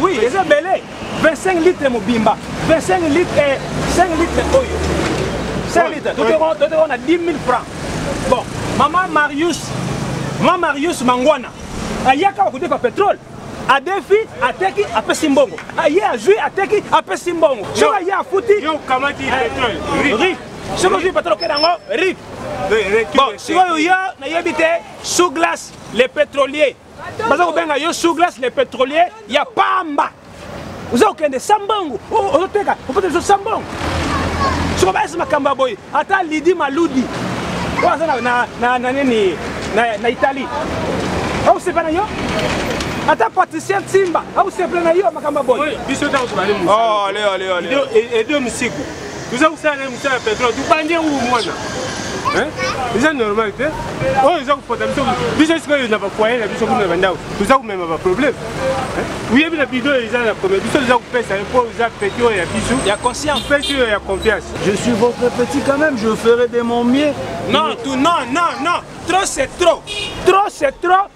Oui, eza bele 25 litres mobimba 25 litres 5 eh, litres oyo 5 litres totekona na 10 000 francs bon mama marius ma marius mangwana ayaka bakodefa petrole adefi ateki apesi mbongo aye azwi ateki apesi mbongo soki aye afuti eh, ri soki ozwi patolo okenda yango rik bon sikoyo yo nayebi te sous glace le pétrolier baza kobenga yo sous glace le pétrolier ya pamba oza kokende sambangu ozoteka opota biso sambangu soko bayesi makambo ya boye ata lidi maludi oyo aza na nini na italie akosepa na yo ata patricia nsimba akosepa na yo makambo ya boye biso ntango tobali mosede misiku toza kosala na ye mosala ya petrole tobandi yango bomwana eza normal te oyo eza kopota biso biso sikoyo na bafoye na biso kuna na bandako toza komema baproblème oyebi na bido eza na problème biso toza kopesa ye mpo eza peti oyo ya biso ya conscience peti oyo ya confiance je suis votre petit quand même je ferai de mon mieux non tout non non non trop c'est trop trop c'est trop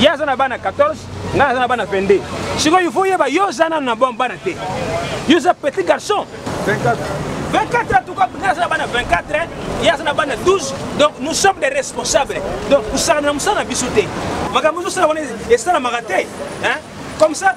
ye aza na bana 14 ngai aza na bana 22 sikoyo il faut yeba yo oza nano na bana te yo oza petit garçon 24 ans, tout cas, nous avons 24 ans, il y a 12, donc nous sommes des responsables. Donc, nous sommes en bisouté. Nous sommes en bisouté. Comme ça,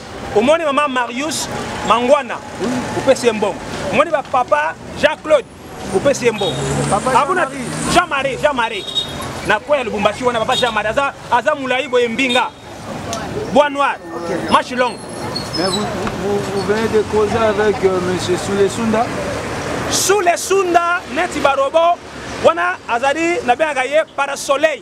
omoni mama marius mangwana opesi ye mbongo omoni bapapa jean claude opesi ye mbongo abuna jean marie jean marie na kwe ya lubumbashi wana papa jean marie aza, aza molai boye mbinga bois noir okay. mache longue Mais vous, vous, vous venez de causer avec euh, M. Soulesunda Soulesunda, neti barobo, wana azali nabengaka ye parasoleil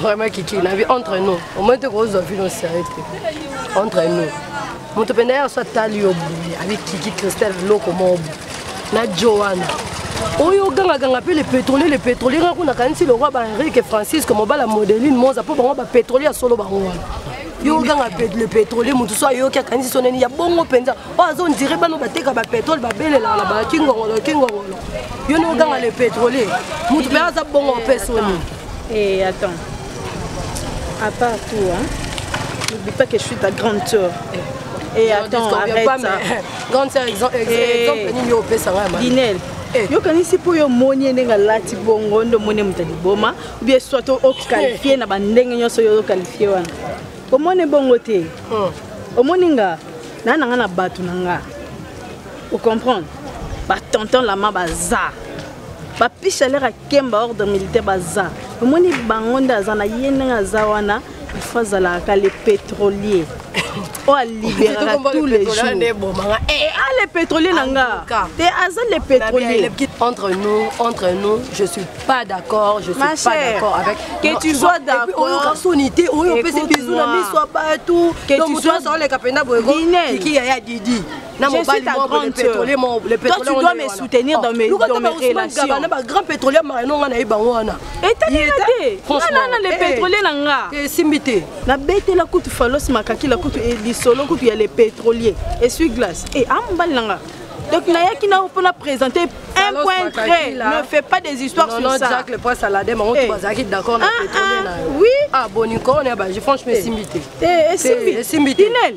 vraiment kiki na vie entre nous omoni te kozwa vino sérieux te entre nous moto mpenza ya so atali yo boye abi kiki christelle eloko moko boye na jo wana oyo ogangaganga mpe le pétrolier le pétrolier nga kuna kanisi lokwa ba henrike francisco mobala modeline moza mpo bango bapétrolier ya solo bango wana yo oganga le pétrolier moto so ayoki akanisi so nani ya bongo mpenza oyo azo ndire bano bateka bapétrole babelelaka na bakingongolo kingongolo yo ne oganga le pétrolier moto mpe aza bongo mpe soni Eh, attends. À part tout, hein, n'oublie pas que je suis ta grande sœur. Et eh, attends, arrête pas, ça. Mais... Grande sœur, exemple, eh, exemple, nini opesa nga mama. Dinel. Eh. yokanisi mpo yo omoni ye ndenge alati bongo nde omoni moto liboma obie soit oqualifie na bandenge nyonso yo oqualifie wana omoni bongo te hmm. omoni nga naa na nga na bato na nga ocomprendre batonton lama baza bapisha lere akemba ordre militaire baza omoni bango nde aza na ye ndenge aza wana ifo azalaka le pétrolier oyo aliberaka tous les jours eh, ah, le pétrolier na nga te aza le pétrolier entre nous entre nous je suis pas d'accord je suis Ma pas chère, d'accord avec que tu sois d'accord oyoka soni te oyo opesi bizu na miso ya bato donc moto azaloleka mpenza boyeko kiki yaya didi na mobali moko le pétrolier moko le pétrolier toi tu dois me soutenir dans mes ah, dans mes relations na ba grand pétrolier marino nga na ye bango wana etalaka te nga na na le eh, pétrolier na nga eh, esimbi te na betela kutu falos makaki la kutu eh, lisolo kutu ya le pétrolier esui glace e a mobali na nga donc nayaki na mpo na présenter un point très ne fait pas des histoires sur ça jack le point salade mango eh. bazalaki d'accord na ah, pétrolier ah, na oui ah boni corona ba je franchement esimbi te esimbi te inel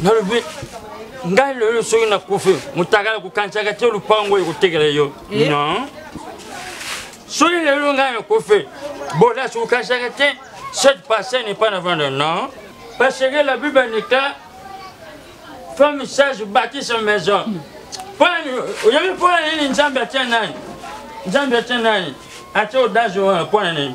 nalobi ngai lelo soki nakufi motakala kokanisaka te lopango oyo ekotekela yo eh? non soki lelo ngai nakufi bolas kokanisaka te cette passé n'est pas avant le non parce que la bible nika femme sage bâtit sa maison oyebi mpo na nini nzambe atya nani nzambe atya nani atya odazo wana mpo na nini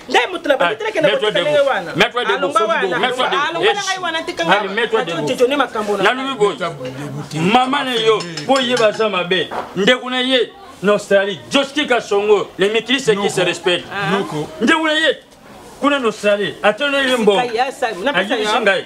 ngai moto na bandi telekende koteka ndenge wana alonga wanaalonga na ngai wana tika ngaajojone makambo nalobi boye mama na yo mpo ye baza mabe ndeko na ye na australie joski kasongo le mikilise qui se respecte ndeko na ye kuna na australie atanoye mbongo ayebisi ngai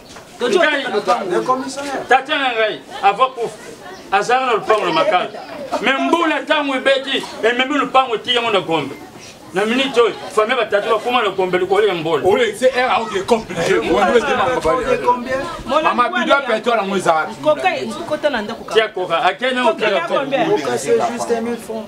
tata na ngai ava kufa azalaka na lopango na makala me mbula ntango ebeti ememi lopango eti yango na gombe na minute oyo famille batatu bakoma na gombe likolo ya mbolo mama bido ya petrole yango ezalaka tia koka akende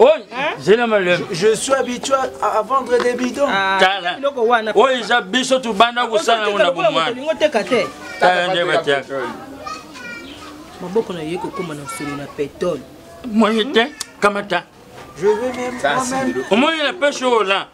Oh, je suis habitué à vendre des bidons. Ah, oh, ils ont biso tout banda ko sana ngona ko mwa. Lingo teka te. Tala nde batia. Maboko na ye ko koma na solo na pétrole. Moi te kamata. Je veux même moi-même. Au moins il a pêche au là.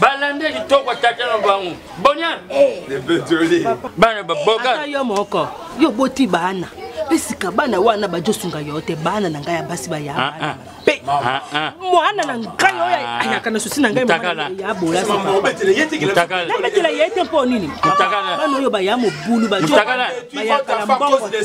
balanda kitoko tata na bango bonia bana baboka yo moko yo boti bana mpe sika bana wana bajosunga yo te bana na ngai ya basi baya ah, ah. mpe ah, mwana na ngai oyo ayaka na susi na ngai ya bolasnabetela ye te mpo nini bana oyo baya mobulu bajobayaka na mbongo te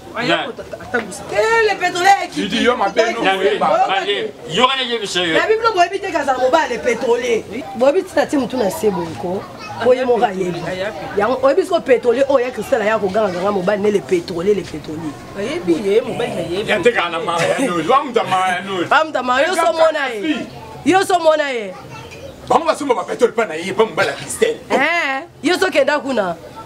boyebi tina ti motu na se boyeko oye moko ayebi yango oyebi siko pétrolier oyo ya cristal aya koganga ganga mobali ne le pétrolier le pétrolier amuta mario somona ye yo somona ye bango basomba bapetole mpa na ye mpa mobali ya kristel yo sokenda kuna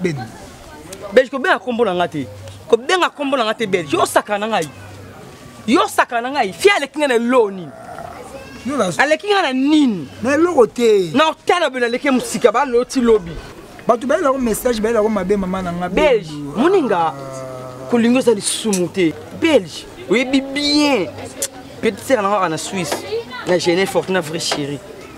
beni belge kobenga nkombo na nga te kobenga nkombo na nga te belge osakana na ngai yo osakana na ngai fie aleki ngai na eloo nini aleki ngai na nini na eloko te na otala bino aleki mosika baloti lobi bato bayela yango message bayela yango mabe mama na nga belge moninga kolinga eza lisumu te belge oyebi bien petite sere na nga kaka na suisse na genève fortuna vrai chérie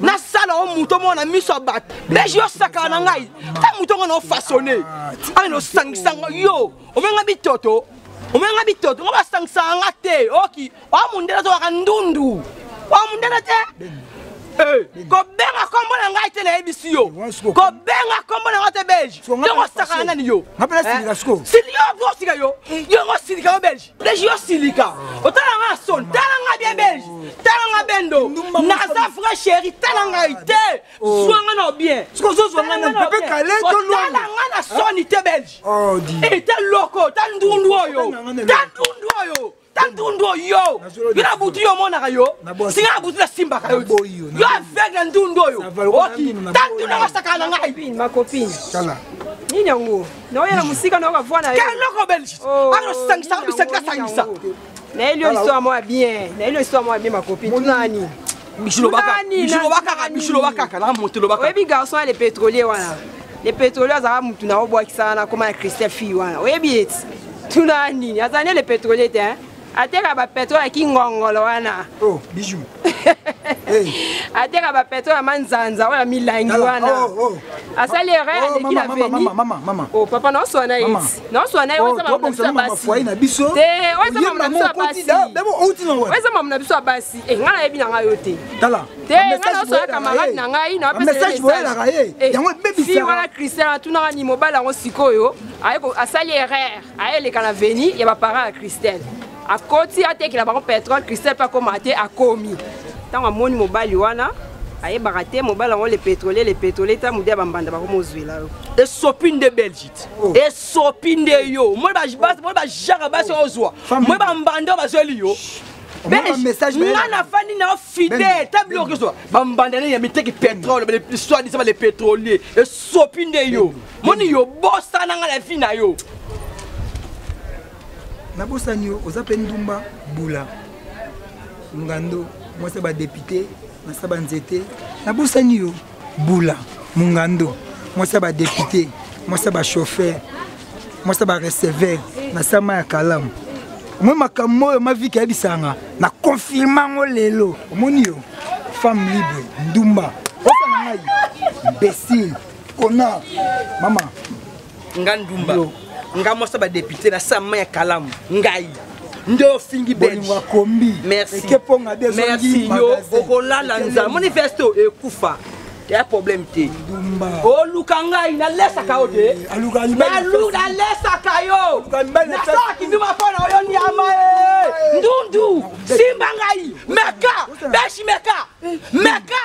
nasala o moto moko na miso ya bato deje yo osakana na ngai ta moto ngo na ofasone ai nosangisanga yo omenga bitoto omenga bitoto ngo basangisaka nga te oki oa mondele azokaka ndundu oa mondele te eh, kobenga kombo na ngai te nayebisi yo eh, kobenga kombo na ngai te belge yongo osakana nani yo eh, silika yo osilika yo yongo osilika yo belge Belge yo silika otala nga son tala nga bien belge tala nga bendo naza vrai chéri tala ngai te oh. zwa nga na bien tala nga na soni te belge oh, eh, ta loko ta ndundu oyo ta ndundu oyo ta ndundu oyo yo na butu yo omonaka yo singa na butu nasimbaka yo yo aveugle ya ndundu oyo oki ta ndundu yango asakana na ngai nini yango naoya na mosika na yo bavua na yoeloko belge oh, azosangisa bisaki asangisa nayeli yo histoire mwa bien nayeli yo histoire mwa bien makopi tunani oyebi garçon ya le pétrolier wana le pétrolier azalaka motu na obwakisaka na koma na christian fille wana oyebi eti tuna nini azali nde le pétrolier te ateka ba petro ya kingongolo wana oh bijou hey. ateka ba petro ya manzanza oyo ya milangi wana oh, oh. asali erreur oh, aleki na veni oh papa naoswana ye naoswana ye oyo eza mamu na biso ya basi te oyo eza mamu na biso ya basi oyo eza mamu na biso ya basi e ngai nayebi na ngai yo te te ngai naoswana camarade na ngai nawapesawana christian atunaka ni mobali yango sikoyo asali erreur ayeleka na veni ya baparent ya christelle akoti atekela bango petrole christelle mpe akoma te akomi ntango amoni mobali wana ayebaka te mobali yango le pétrolier le pétrolier ta mudi ya bambanda bakoma ozwela yo esopi nde belgite oh. esopi nde yo moi bajaka basi oh. ozwa moi bambanda bazweli yo nga nafandi na fidèle ta biloko ezwa bambanda nini ya miteki pétrole soit disant le pétrolier esopi nde yo moni yo bosana nga na vie na yo nabosani yo oza mpe ndumba bula ngando mwasi ya badepute nasa banzete nabosani yo bula mungando mwasi ya badepute mwasi ya bachauffeur mwasi ya bareceveur na sama ya kalamu omoi makambo oyo maviki ayebisanga na konfirme yango lelo omoni yo femme libre ndumba osana ngai imbesile kona mama nga ndumba nga mwasa badepute na sama ya kalamu ngai nde ofingi belgeakombi ekeponga de merci yo okolala nza manifeste ekufa ya problème te oluka ngai nalesaka yo te nalesaka yo nasalaki nduma mpo na oyo nyama e ndundu simba ngai meka beshi meka meka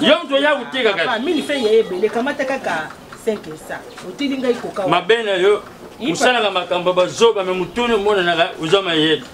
yo moto oya koteka katimabe na yo osalaka makambo bazoba me motuni omonanaka oza mayele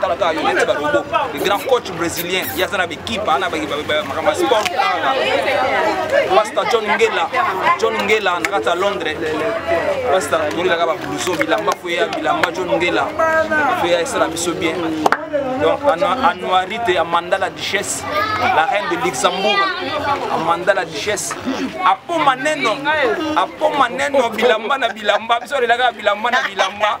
tala kaka yo neti barobo le grand coach brésilien ye aza na baekipe ana makambo ya sport kaka pasta john ngela john ngela na kati ya londres pasta tolelaka babluso bilamba fo ya bilamba john ngela fo ya esala biso bien donc anuarite ya manda la duchesse la reine de luxembourg amanda la duchesse apoma neno apoma neno bilamba na bilamba biso olelaka bilamba na bilamba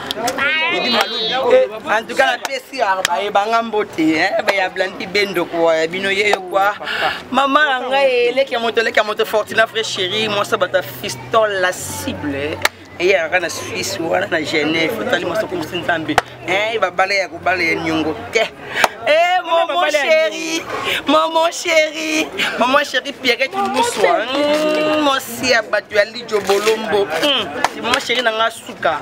idi malubi eh, en tout cas napesi baye banga mbote eh, baya blandi bendo kwa ya bino ye yo kwa mama na ngai eleki ya moto eleki ya moto fortina vrai chéri mwasa bata fiston la cible eyaka na suisse wana na genève otali mwasa okomisi nzambe eh, babala ya kobala ya niongo te Eh, maman chérie, maman chérie, maman chérie Pierrette Moussoua, hmm, mon siabatu ya Lidjo Bolombo, hmm, maman chérie nanga suka.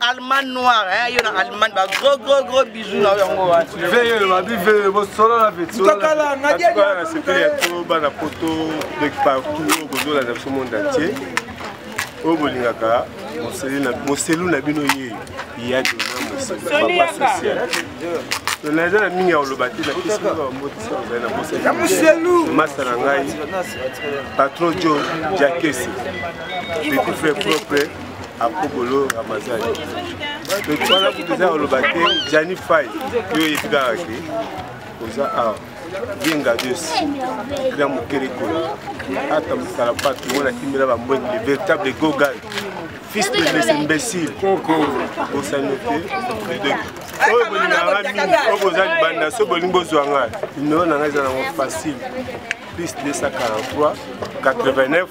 allemand noir hein yo na allemand ba gros gros gros bisous na yango wa veye le babi veye bo solo na veye solo kala na dia dia na sepeli ya to bana poto de partout au bozo la nation monde entier oyo bolingaka moselu na bino ye ya dona mosepapa social naza na mingi ya koloba te napesiamasa na ngai patron jo jakesi petit frère propre akobolo ramazani donc wana kutu eza koloba te jani fai yo oyebi kaka ke oza awa yenga dios kina mokele kola ata mosala patu ngo natimbela bambwengi le véritable gogal fils de les imbéciles bosani te oyo bolingaka mingi oyo boza libanda so bolingi bozwa ngai numero na ngai eza nango facile plus 243 89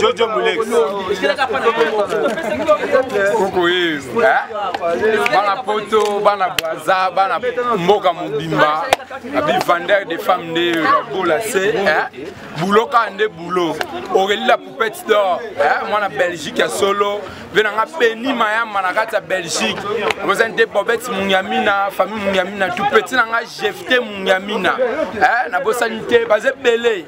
jojo mulex koko ye bana poto bana braza bana mboka mobimba abivandere de femme nde babola se bulo kaka nde bulo aurélie la poupette d'or mwana belgique ya solo mpe na nga beni mayamba na kati ya belgique oza nde bobet mungamina famille mungamina tout petit na nga jefte mungamina nabosani te baza ebele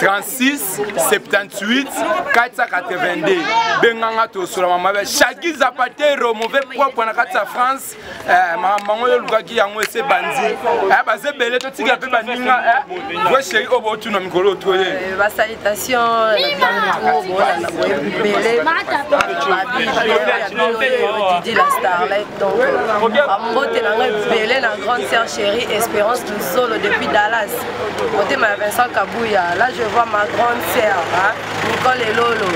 36 78 482 benganga tosola mama be shaki zapatero mauvais propre na kati ya france eh, mamango yo olukaki yango ese bandi eh, baza ebele totikela mpe baninga eh, we sheri oyo botuna mikolo otoye eh, basalitation didi la starlet donc bambote na ngai ebele na grande sœur chérie espérance luzolo depuis dallas motema ya vincent kabuya là je vois ma grande sœur hein? nicole elolo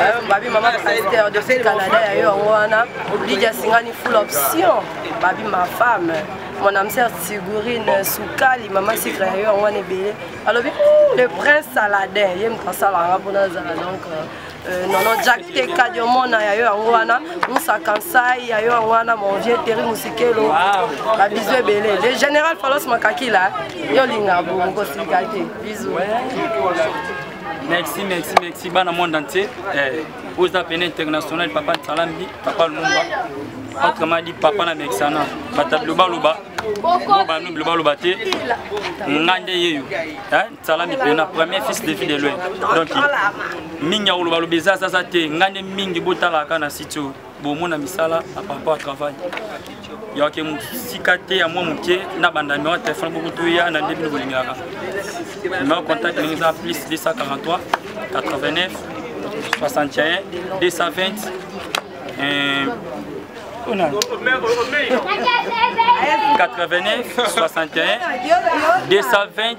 eh, babi mama pasteur depuis canada ya yo yango wana lidia singani full option babi ma femme mon âme sœur sigurine sukali mama sikre ya yo yango wana ebele alobi le prince saladin ye moto asalanga mpona azala donc euh, Euh, non non jack te kadi omona ya yo yango wana musa kansai ya yo yango wana mon vieux teri musikelo babizu ebele le général falos makakila yo olinga bongo kosilika te bizu merci merci merci bana monde entier eh, oza pene international papa nsalambi papa lumumba autrement dit papa na mexana batabilo baloba bobanu bilo baloba te nga nde yeyo eh? sala mikolo na premier fils de vie de loin donc mingi ya koloba loba eza azaza te ngai nde mingi botalaka na site oyo bomona misala na parcours ya travail yawake mosika te ya mwa moke na bandamio ya telefone boko toya na nde bino bolingaka numero contact ndenge eza plus 243 89 61 220 89 61 220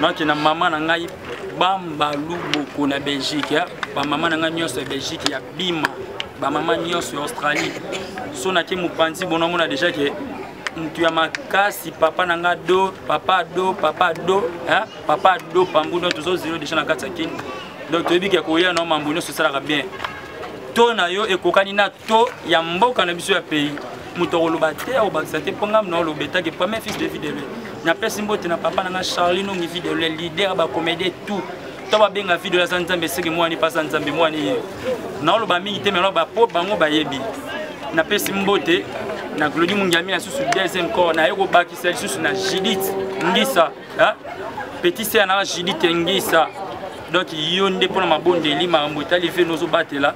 nake na mama na ngai bambalu boko na belgique ya bamama na ngai nyonso ya belgique ya bima bamama nyonso ya australie so nake mopanzi bonamona deja ke motu ya makasi papa na ngai do papa do papa do eh? papa do pambu don tozozelo deja na kati ya kini donc toyebi ke koya na mambo nyonso esalaka bien to na yo ekokani na to ya mboka na biso ya pays moto akoloba te akobakisa te mpo ngai naoloba etake premier fils de vie de lue napesi mbote na papa na ngai charli nongi vie de lue leader ya bacomédie tout to babenga video aza nzambe eseke mwani mpe aza nzambe mwani ye naoloba mingi te melo bapo bango bayebi napesi mbote na glodi mungiami na susu deuxième corps naye kobakisa lisusu na judith ngisa petit ser nanga judith ngisa donc yo nde mpo na mabondeli makambo etali veno ozobatela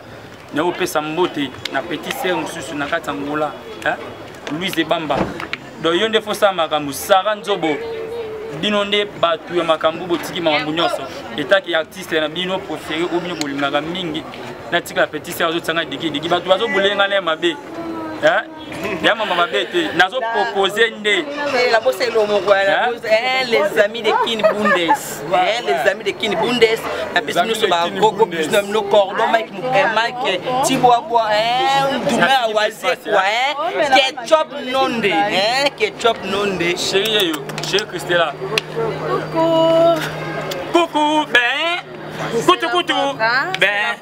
naopesa mbote na petit sere mosusu na kati ya ngola louise ebamba donc yo nde fosala makambo sara nzobo bino nde bato ya makambo botiki makambo nyonso etaki artiste na bino préféré oyo bino bolingaka mingi natikala petit sere azotisanga dikidiki bato bazobolenga na ye mabe ya mama mabe te nazo propose nde nabosa elo moko les amis de kin bundes les amis de kin bundes na pesi nyonso bagogo plus na bino cordon mike mike tibwabwa ndume ya wazekwa ketchup nonde ketchup nonde chéri yeyo chéri christela coucou coucou ben Kutu kutu. Ben.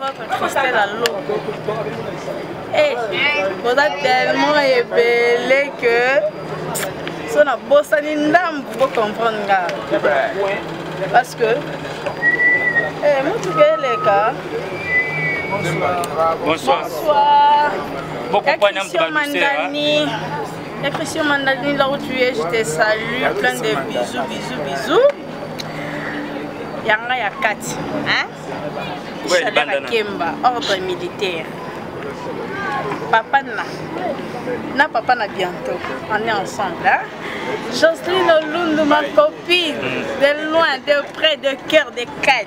Eh, boza tellement ebele que so nabosani ndambu bocomprendre nga parce que eh, motuka eleka bonsoir bokopanamutuka mandani Christian Mandani, là où tu es, je te salue. Plein de bisous, bisous, bisous. yanga ya kati chaleur akemba ordre militaire papa na na papa na bientôt on est ensemble hein? Jocelyne Olundu ma copine mm. de loin de près de cœur de cœur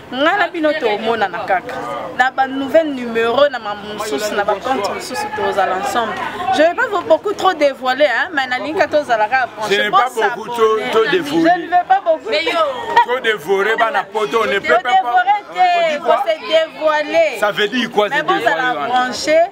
ngai na bino tomonana kaka na banouvelle numero na mambo mosusu na bacompte mosusu tozala ensemble je vais pas beaucoup trop dévoiler hein, mais nalingi ka tozala kaka branchetodevorer bana poto ne peut pas se dévoiler ça veut dire quoi se dévoiler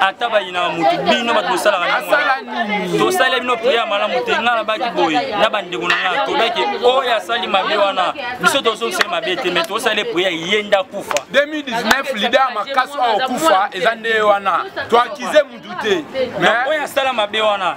ata bayinaka motu bino bato bosalaka nini tosali bino priere malamu te ngai nabaki boye na bandeko na ngai tobaki oyo asali mabe wana biso tozongiseli mabe te mai tosali priere ye nde akufa 2019 lide ya makasi oyo okufa eza nde wana toakize motu te oyo asala mabe wana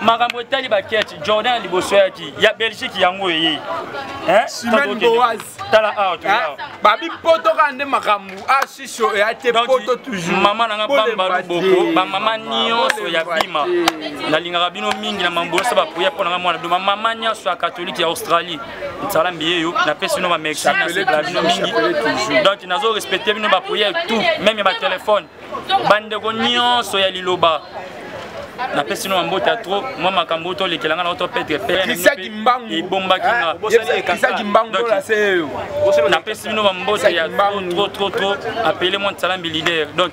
makambo etali baketi jordan ya liboso yaki ya belgique yango eye simani boaz tala awa ah, babi poto kaka nde makambo asiso ah, eya te poto toujours mama na nga bambalu boko bamama nyonso ya bima nalingaka bino mingi na mambosa bapoya mpo na nga mwana bima mama nyonso ya katolike ya australie nsalambi ye yo napesi bino bamexi nasepela bino mingi donc nazo respecte bino bapoya tout meme ya batelefone bandeko nyonso ya liloba napesi no mbote ya trop mwa makambo oyo tolekela ngai na oto petre peisaki mbangu ebombaki nga napesi bino bambote ya trop trop trop apele mwa nsalambi leader donc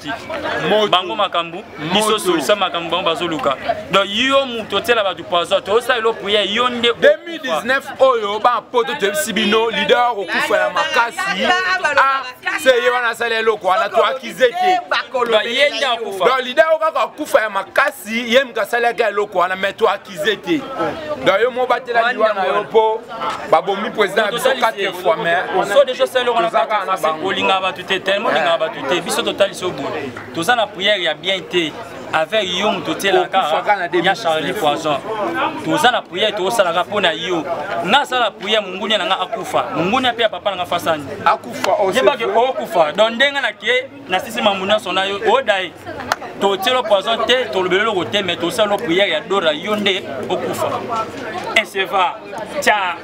bango makambo biso solisa makambo bango bazoluka donc yo moto otiela bato poison toyosala elo priere yo nde 2019 oyo bapoto toyebisi bino leader okokufa ya makasi se ye wana asali eloko wana to akize te donc lida yo kaka akufa ya makasi ye moto asalaki eloko wana mai to akize te donc yo mobatela liwa na yo mpo babomi président na biso 4 fois maisozakaka na bango olingaka bato te tellement olingaka bato te biso totalisi yo boye toza na prière ya bien te avec yo moto otielaka ya charlie poison toza na priere tosalaka mpo na yo nasala priere mongunia na nga akufa mongunia mpe ya papa na nga fasani yebake okufa don ndenge nake nasisi mambo nyonso na yo odaye totielo poison te tolobeli eloko te mai tosala priere ya dora yo nde okufa eseva tya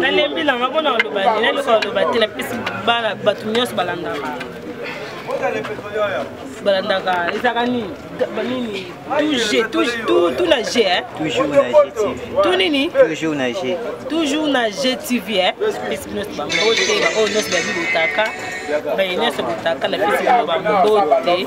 nalembi nanga mpona koloba nini eloko koloba te napesi bana bato nyonso balandaka balandaka ezalaka nini nini tout na g tout nini toujours na g toujours na g tv napesi bino nyonso bambote baoyo nyonso bayebi botaka baye nyonso botaka napesi bino bambote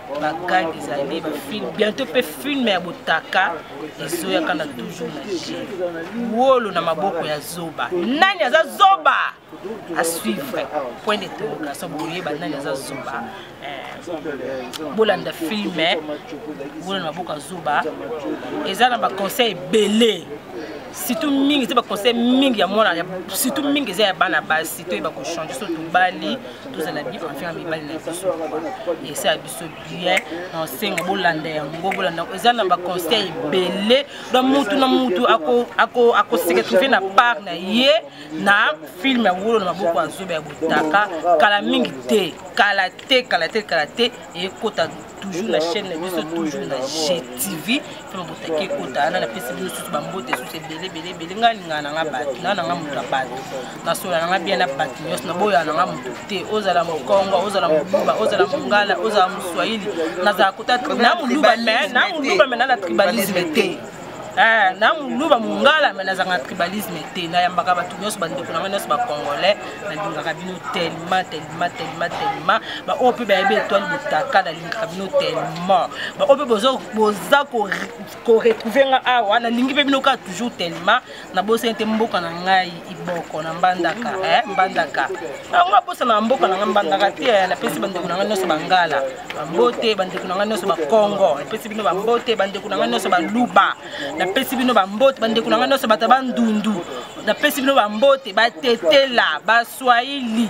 bagag ezali bafilm bientôt mpe filme ya botaka ezoyaka na toujours na je wolo na maboko ya zoba nani aza zoba à suivre point d'interrogation bokoyeba nani aza zoba eh, bolanda filme wolo na maboko ya zoba eza na baconseil ebele surtout mingi eza baconseil mingi ya mwana surtout mingi eza ya bana basi toyeba kochange so tobali tozala bien affaire mibali na biso esa ya biso bien na osenga bolanda yango bolanda yango eza na baconseil ebele don mutu na mutu akoseka trouve na part na ye na filme ya wolo na maboko ya zoba ya botaka kala mingi te kala te kala te kala te ekota toujours na chaîne na biso toujours na gtv mpe babotaki ekota wana napesi bino susu bambote susu ebele ebele ebele ngai alingaka na ngai bato ngai na ngai moto ya bato nasola na ngai bien na bato nyonso naboyaka na ngai moto te ozala mokongo ozala moluba ozala mongala ozala moswahili nazala kota na moluba me na moluba me na na tribalisme te Eh, na muluba mungala me nazanga tribalisme te nayambaka bato nyonso bandeko na ngai nyonso bacongolais nalingaka bino telema telema telema telema baoyo mpe bayebi etoile botaka nalingaka bino telema baoyo mpe boza koretrouve nga awa nalingi mpe bino kaka toujours telema nabosani te mboka na ngai iboko na mbandaka eh, mbandaka yango nabosana na mboka na ngai mbandaka te eh, napesi bandeko na ngai nyonso bangala bambote bandeko na ngai nyonso bakongo napesi bino bambote bandeko na ngai nyonso baluba napesi bino bambote bandeko na ngai nyonso bato bandundu napesi bino bambote batetela baswahili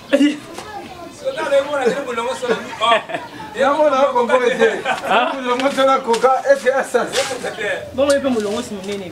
yango na kongo ete molongo to na koka ete asasi bongo ye mpe molongosi monene